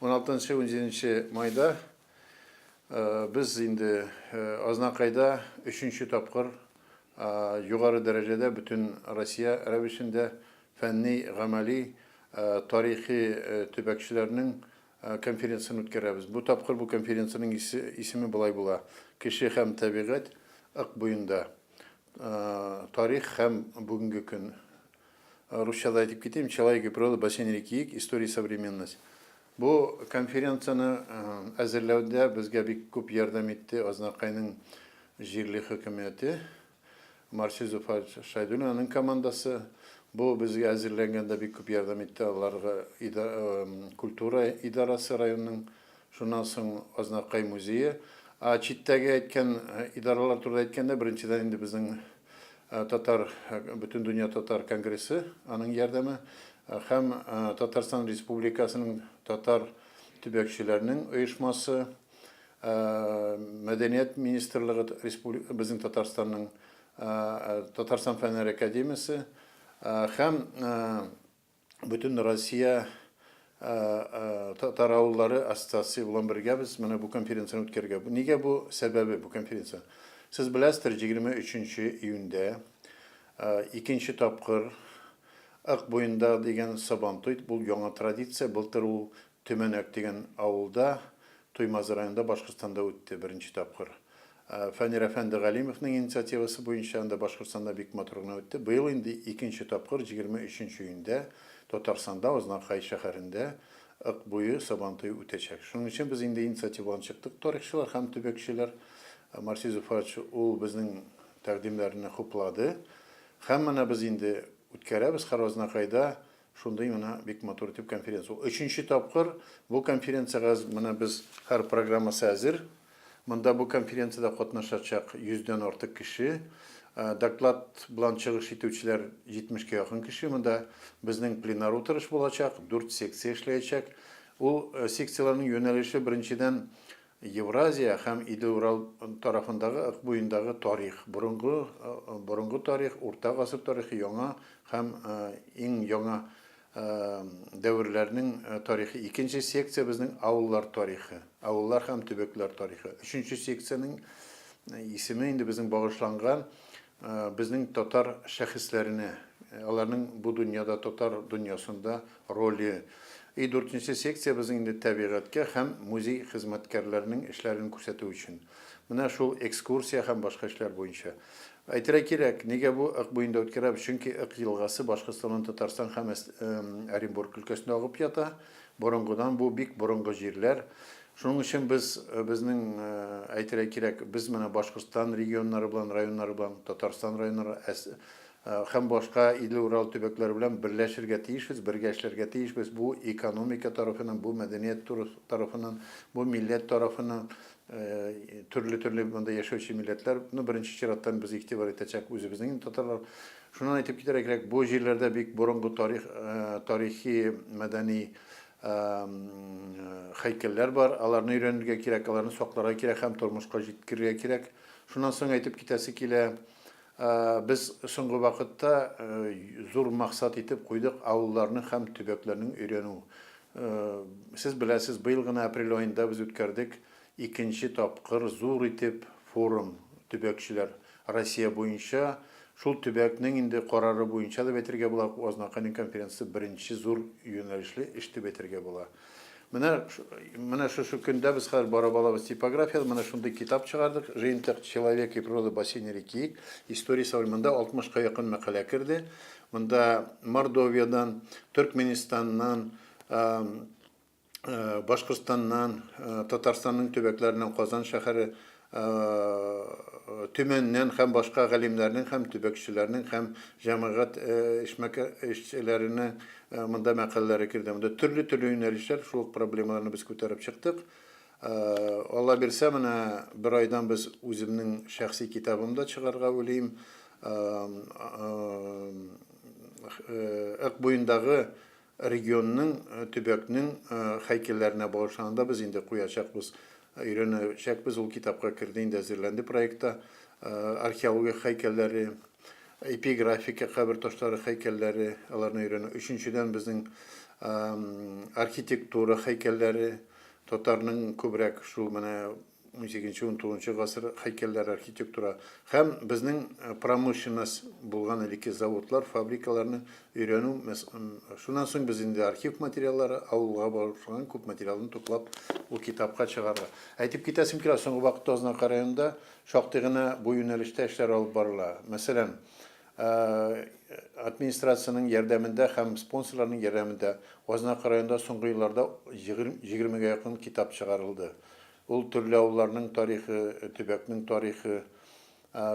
16-17 майда без инде Азнакайда өченче тапкыр югары дәрәҗәдә бөтен Россия рәвешендә фәнни, гамәли, тарихи төбәкчеләрнең конференциясен үткәрәбез. Бу тапкыр бу конференциянең исеме болай була, Кеше һәм табигать ык буенда, тарих һәм бүгенге көн. Русчада әйтеп китим, Человек и природа, бассейн реки Ик, история и современность. Бу конференцияне әзерләүдә безгә бик күп ярдәм итте Азнакайның җирле хөкүмәте, Марсель Зуфар Шайдуллин аның командасы. Бу безгә әзерләнгәндә бик күп ярдәм итте аларга культура идарасы районның Шуннан соң Азнакай музее. Ә читтәге әйткән идаралар турында әйткәндә, беренчедән инде безнең татар, Бөтендөнья татар конгрессы, аның ярдәме һәм Татарстан Республикасының татар төбәкчеләренең оешмасы, мәдәният министрлыгы, безнең Татарстанның Татарстан фәннәр академиясе һәм Бөтен Россия татар авыллары ассоциациясе белән бергәбез, менә бу конференцияне үткәрергә. Нигә бу сәбәбе бу конференция? Сез беләсездер, 23 июньдә икенче тапкыр Ык буенда дигән Сабантуй, бу яңа традиция, былтыр ул Төмәнәк дигән авылда, Туймазы районында, Башкортстанда үтте беренче тапкыр. Фәнир әфәнде Галимовның инициативасы буенча анда Башкортстанда бик матур гына үтте. Быел инде икенче тапкыр, җигерме өченче июньдә Татарстанда, Азнакай шәһәрендә Ык буе Сабантуе үтәчәк. Шуның өчен без инде инициативаларны чыктык, тарихчылар һәм төбәкчеләр. Марсис Зуфарович ул безнең тәкъдимнәрне хуплады. Һәм менә без инде үткәрәбез һәр Азнакайда Шундый менә бик матур итеп конференция. Ул өченче тапкыр бу конференциягә менә без һәр программасы әзер. Монда бу конференциядә катнашачак 100 дән артык кеше. Доклад белән чыгыш итүчеләр 70 кә якын кеше. Монда безнең пленар утырыш булачак, 4 секция эшләячәк. Ул секцияләрнең юнәлеше беренчедән Евразия һәм Иде-Урал тарафындагы Ык буендагы тарих, борынгы, борынгы тарих, урта гасыр тарихы, яңа һәм иң яңа дәверләрнең тарихы. Икенче секция безнең авыллар тарихы, авыллар һәм төбәкләр тарихы. Өченче секциянең исеме инде безнең багышланган Безнең татар шәхесләренә, аларның бу дөньяда, татар дөньясында роле. И дүртенче секция безнең инде тәбигатькә һәм музей хезмәткәрләренең эшләрен күрсәтү өчен. Менә шул экскурсия һәм башка эшләр буенча. Әйтергә кирәк, нигә бу Ык буенда үткәрәбез, чөнки Ык елгасы Башкортстаннан Татарстан һәм Оренбург өлкәсендә агып ята. Борынгыдан бу бик борынгы җирләр. Шуның өчен без, безнең, әйтергә кирәк, без менә Башкортстан регионнары белән, районнары белән, Татарстан районнары һәм башка Идле-Урал төбәкләре белән берләшергә тиешбез, бергә эшләргә тиешбез. Бу экономика тарафыннан, бу мәдәният тарафыннан, бу милләт тарафыннан, төрле-төрле монда яшәүче милләтләр, ну, беренче чираттан без игътибар итәчәк үзебезнең инде татарлар. Шуннан әйтеп китәргә кирәк, бу җирләрдә бик борынгы тарих, тарихи, мәдәни Һәйкәлләр бар, аларны өйрәнергә кирәк, аларны сакларга кирәк һәм тормышка җиткерергә кирәк. Шуннан соң әйтеп китәсе килә, без соңгы вакытта зур максат итеп куйдык авылларның һәм төбәкләрнең өйрәнү. Сез беләсез, быел гына апрель аенда без үткәрдек Икенче тапкыр зур итеп форум төбәкчеләр Россия буенча, шул төбәкнең инде карары буенча дип әйтергә була, Азнакайның конференциясе беренче зур юнәлешле эш дип әйтергә була. Менә, менә шушы көндә без хәзер барып алабыз типография, менә шундый китап чыгардык, жыентык Человек и природа бассейна реки, история современ. Монда 60 ка якын мәкалә керде. Монда Мордовиядән, Төркменистаннан, Башкортстаннан, Татарстанның төбәкләреннән, Казан шәһәре, Төмәннән һәм башка галимнәрнең һәм төбәкчеләрнең һәм җәмәгать эшмәкәэшчеләренең монда мәкаләләре керде. Монда төрле-төрле юнәлешләр, шул ук проблемаларны без күтәреп чыктык. Аллабирсә, менә бер айдан без үземнең шәхси китабым да чыгарга уйлыйм. Ык буендагы Регионның, төбәкнең һәйкәлләренә багышлануын да без инде куячакбыз, өйрәнәчәкбез, ул китапка керде инде, әзерләнде проектта. Археология һәйкәлләре, эпиграфика кабер ташлары һәйкәлләре, аларны өйрәнү. Өченчедән, безнең архитектура һәйкәлләре, татарның күбрәк шул менә Унсигезенче-унтугызынчы гасыр һәйкәлләре архитектура һәм безнең промышленность булган элекке заводлар, фабрикаларны өйрәнү, шуннан соң без инде архив материаллары, авылга багышланган күп материалны туплап, ул китапка чыгарга. Әйтеп китәсем килә, соңгы вакытта Азнакай районында шактый гына бу юнәлештә эшләр алып барыла. Мәсәлән, Администрациянең ярдәмендә һәм спонсорларның ярдәмендә Азнакай районында соңгы елларда егермегә якын китап чыгарылды. Ул төрле авылларның тарихы, төбәкнең тарихы.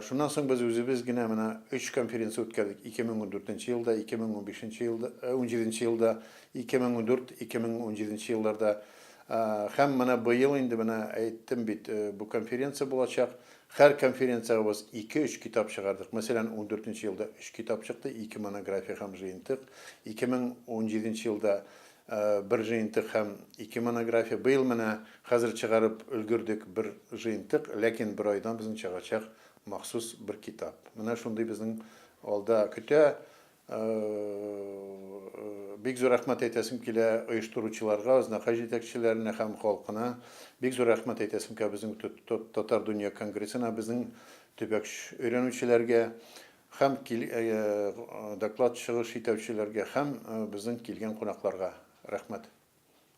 Шуннан соң без үзебез генә менә өч конференция үткәрдек, 2014 елда, 2015 елда, унҗиденче елда, 2014, 2017 елларда. Һәм менә быел инде, менә әйттем бит, бу конференция булачак. Һәр конференциягә без ике-өч китап чыгардык. Мәсәлән, ундүртенче елда өч китап чыкты, ике монография һәм җыентык. Ике мең унҗиденче елда бер җыентык һәм ике монография. Быел менә хәзер чыгарып өлгердек бер җыентык, ләкин бер айдан безнең чыгачак махсус бер китап. Менә шундый безнең алда көтә. Бик зур рәхмәт әйтәсем килә оештыручыларга, Азнакай җитәкчеләренә һәм халкына. Бик зур рәхмәт әйтәсем килә безнең Татар дөнья конгрессына, безнең төбәк өйрәнүчеләргә һәм доклад чыгыш итәүчеләргә һәм безнең килгән кунакларга. Рәхмәт.